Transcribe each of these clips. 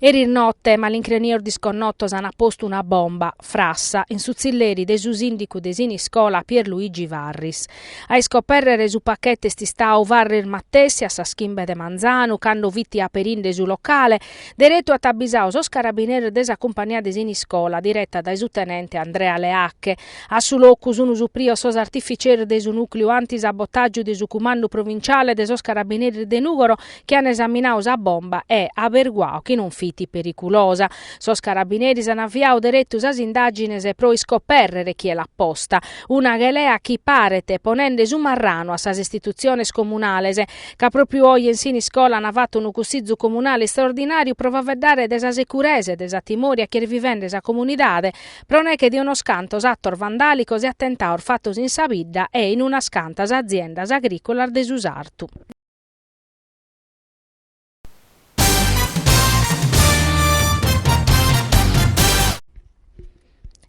Eris notte malincrenios disconnotos ant postu una bomba, frassa, in su tzilleri de su sìndicu de Siniscola Pier Luigi Varris. A iscopèrrere su pachete est istadu Varris matessi a sas chimbe de manzanu, cando fit aperinde su locale, deretu at abbisadu sos carabineris de sa cumpania de Siniscola direta dae su tenente Andrea Leacche. A su locu sunt suprios sos artificeros de su nùcleu anti-sabotàgiu de su Cumandu Provinciale de sos Carabineris de Nùgoro, chi an esaminadu sa bomba e aberguadu chi non fit periculosa. Sos carabineris an aviadu deretu sas indàgines pro iscopèrrere chie l'at posta, una chelea chi paret ponende su marranu a sas istitutziones comunales, ca pròpiu oje in Siniscola an fatu unu cussizu comunale istraordinàriu pro faeddare de sa securesa e de sa timòria chi est vivende sa comunidade pro neghe de unos cantos atos vandàlicos e atentados fatos in sa bidda e in unas cantas aziendas agrìcolas de su sartu.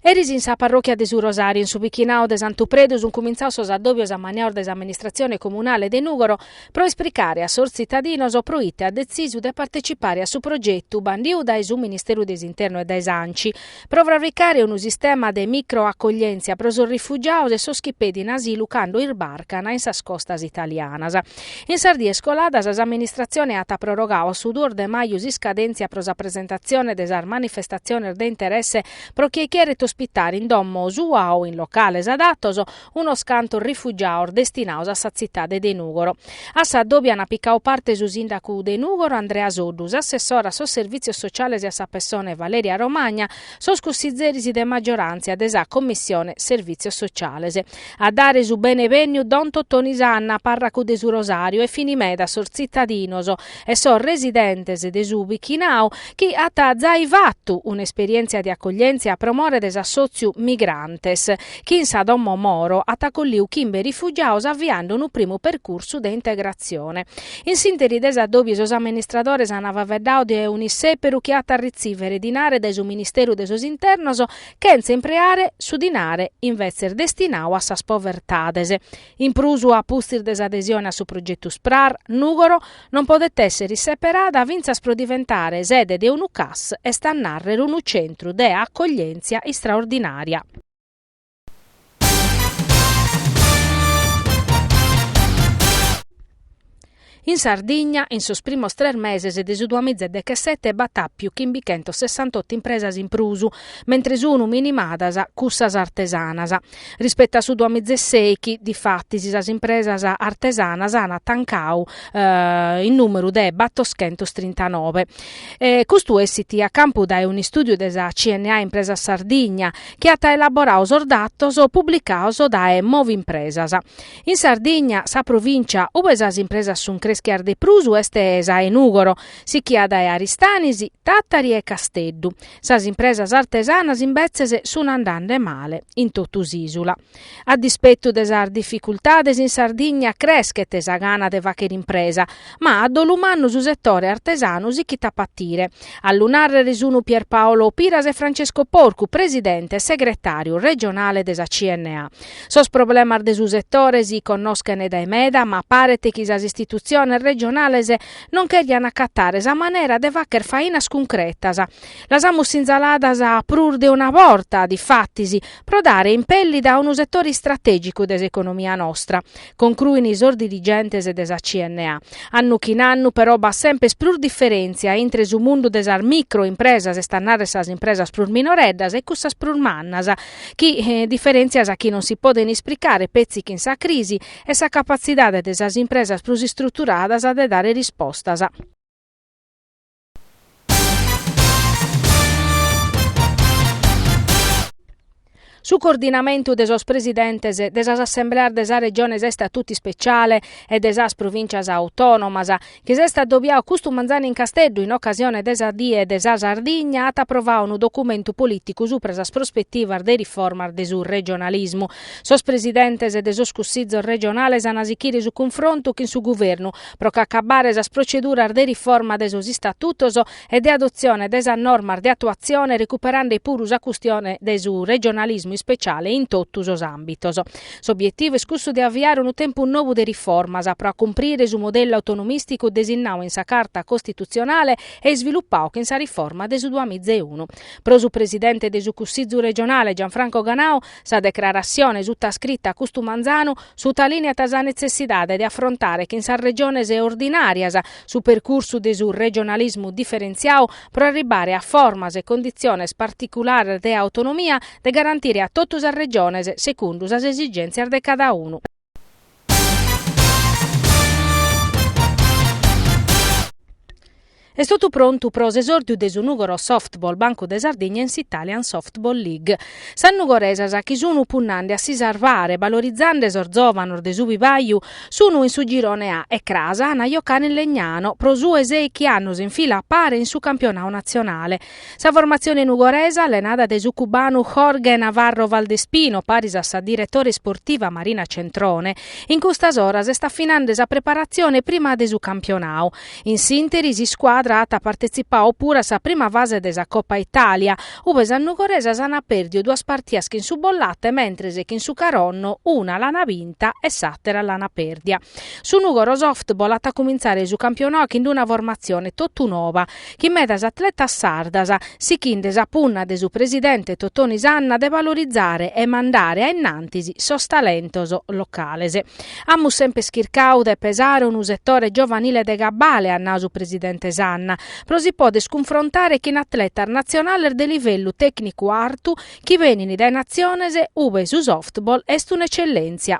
Eris in sa parròchia de su Rosàriu, in su pichinadu de Santu Predu, sunt cumintzados sos addòbios ammaniados de s'amministratzione comunale de Nùgoro pro ispricare a sos tzitadinos pro ite at detzisu de partecipare a su progetu bandidu dae su Ministeru de s'Internu e dae s'Anci, pro fravricare unu sistema de micro-accoglièntzia pro sos rifugiados e sos chi pedin asilu cando isbarcana in sas costas italianas. In sas dies coladas s'amministratzione at prorogadu a su duos de maju s'iscadèntzia pro sa presentatzione de sas manifestatziones de interesse pro chie cheret ospitare in domo sua o in locales adatos unos cantos rifugiados destinados a sa tzitade de Nùgoro. A s'addòbiu ant picadu parte su sìndacu de Nùgoro Andrea Soddu, s'assessora a sos Servìtzios Sociales e a sa Pessone Valeria Romagna, sos cussitzeris de maggioràntzia de sa Commissione Servìtzios Sociales. A dare su bene-bènniu don Totoni Sanna, pàrracu de su Rosàriu e fini meda sos tzitadinos e sos residentes de su pichinau chi at zai fatu un'esperièntzia de acoglièntzia pro more de s'assòtziu Migrantes, chi in sa domo Moro at acolliu chimbe rifugiados aviende unu primu percursu de integratzione. In s'ìnteri de s'addòbiu sos amministradores ant faeddadu de un'issèperu chi at a retzìvere dinare dae su Ministeru de sos Internos chentza impreare su dinare invetzes destinadu a sas povertades In prus, a pustis de s'adesione a su progetu Sprar, Nùgoro non podet èssere seperada fintzas pro diventare sede de unu Cas, est a nàrrere unu centru de acoglièntzia istraordinària. In Sardigna, in sos primos tres meses de su duamiza e dechesete b'at àpiu chimbichentos sessantotto impresas in prus, mentre sunu minimadas cussas artesanas. Rispettu a su duamiza e sèichi, difatis, sas impresas artesanas an tancadu in nùmeru de battoschentos trintanove. Custu essit a campu dae un'istùdiu de sa CNA Impresas Sardigna, chi at elaboradu sos datos publicados dae Movimpresas. In Sardigna, sa provìncia ue sas impresas sunt creschias de prus est sa 'e Nùgoro, sichia dae Aristanis, Tàtari e Casteddu. Sas impresas artesanas imbetzes sunt andende male in totu s'ìsula. A dispetu de sas dificultades in Sardigna creschet sa gana de fàghere impresa, ma a dolu mannu su setore artesanu sichit a patire. A lu nàrrere sunt Pierpaolo Piras e Francesco Porcu, presidente e segretàriu regionale de sa CNA. Sos problemas de su setore si connoschent dae meda ma paret chi sas istitutziones regionales non chèrian acatare sa manera de fagher fainas cuncretas. Las amus sinzaladas prus de una borta, difatis, pro dare impèllida a unu setore istratègicu de s'economia nostra. Concruin sos dirigentes de sa CNA. Annu chin annu però b'at semper prus diferèntzia intre su mundu de sas micro impresas, est a narrer sas impresas prus minoreddas, e cussas prus mannas, chi diferèntzias chi non si podent isplicare petzi chin sa crisi e sa capatzidade de sas impresas prus istruturadas de dare rispostas. Su coordinamentu de sos presidentes de sas assembleas de sas Regiones a istatutu ispeciale e de sas Provìncias autònomas, chi s'est adobiadu custu manzanu in Casteddu in ocasione de sa Die de sa Sardigna, at aprovadu unu documentu polìticu subra sas prospetivas de riformas de su regionalismu. Sos presidentes de sos Cussizos regionales an a sichire su cunfrontu chin su Guvernu pro ch'acabbare sas proceduras de riforma de sos istatutos e de adotzione de sas normas de atuatzione recuperande puru sa custione de su regionalismu ispeciale in totu sos àmbitos. S'obietivu est cussu de aviare unu tempus nou de riformas pro acumprire su modellu autonomìsticu desinnadu in sa Carta costitutzionale e isvilupadu chin sa riforma de su duamiza e unu. Pro su presidente de su Cussizu regionale Gianfranco Ganau, Sa declaratzione sutascrita custu manzanu sutalìneat sa netzessidade de afrontare chin sas Regiones ordinàrias su percursu de su regionalismu diferentziadu pro arribbare a formas e conditziones particulares de autonomia de garantire a totu sas Regiones secundu sas esigèntzias de cada unu. Est totu prontu pro s'esòrdiu de su Nùgoro Softball Bancu de Sardigna in s'Italian Softball League. Sas nugoresas chi sun punnande a si sarbare balorizande sos zòvanos de su vivaju sun in su girone A e cras an a jocare in Legnano pro su 'e sèichi annos in fila a pare in su campionadu natzionale. Sa formatzione nugoresa, allenada dae su cubanu Jorge Navarro Valdespino, paris a sa diretore isportiva Marina Centrone, in custas oras est afinande sa preparatzione prima de su campionau. In s'interi s'iscuadra at partetzipau puru a sa prima fase de sa Coppa Italia, ube sas nugoresas an pèrdiu duas partias chin su Bollate mentres chin su Caronno una l'an binta e s'àtera l'an pèrdia. Su Nugoro Softball at a cumintzare su campionau chin una formatzione totu noba, chin medas atletas sardas sichinde sa punna de su presidente Totoni Sanna de valorizare e mandare a innantis sos talentos locales. Amus semper chircau de pesare unu setore giovanile de cabale, at nau su presidente Sanna, pro si poder cunfrontare chin atletas natzionales de livellu tècnicu artu chi benin dae natziones ube su softball est un'etzellèntzia.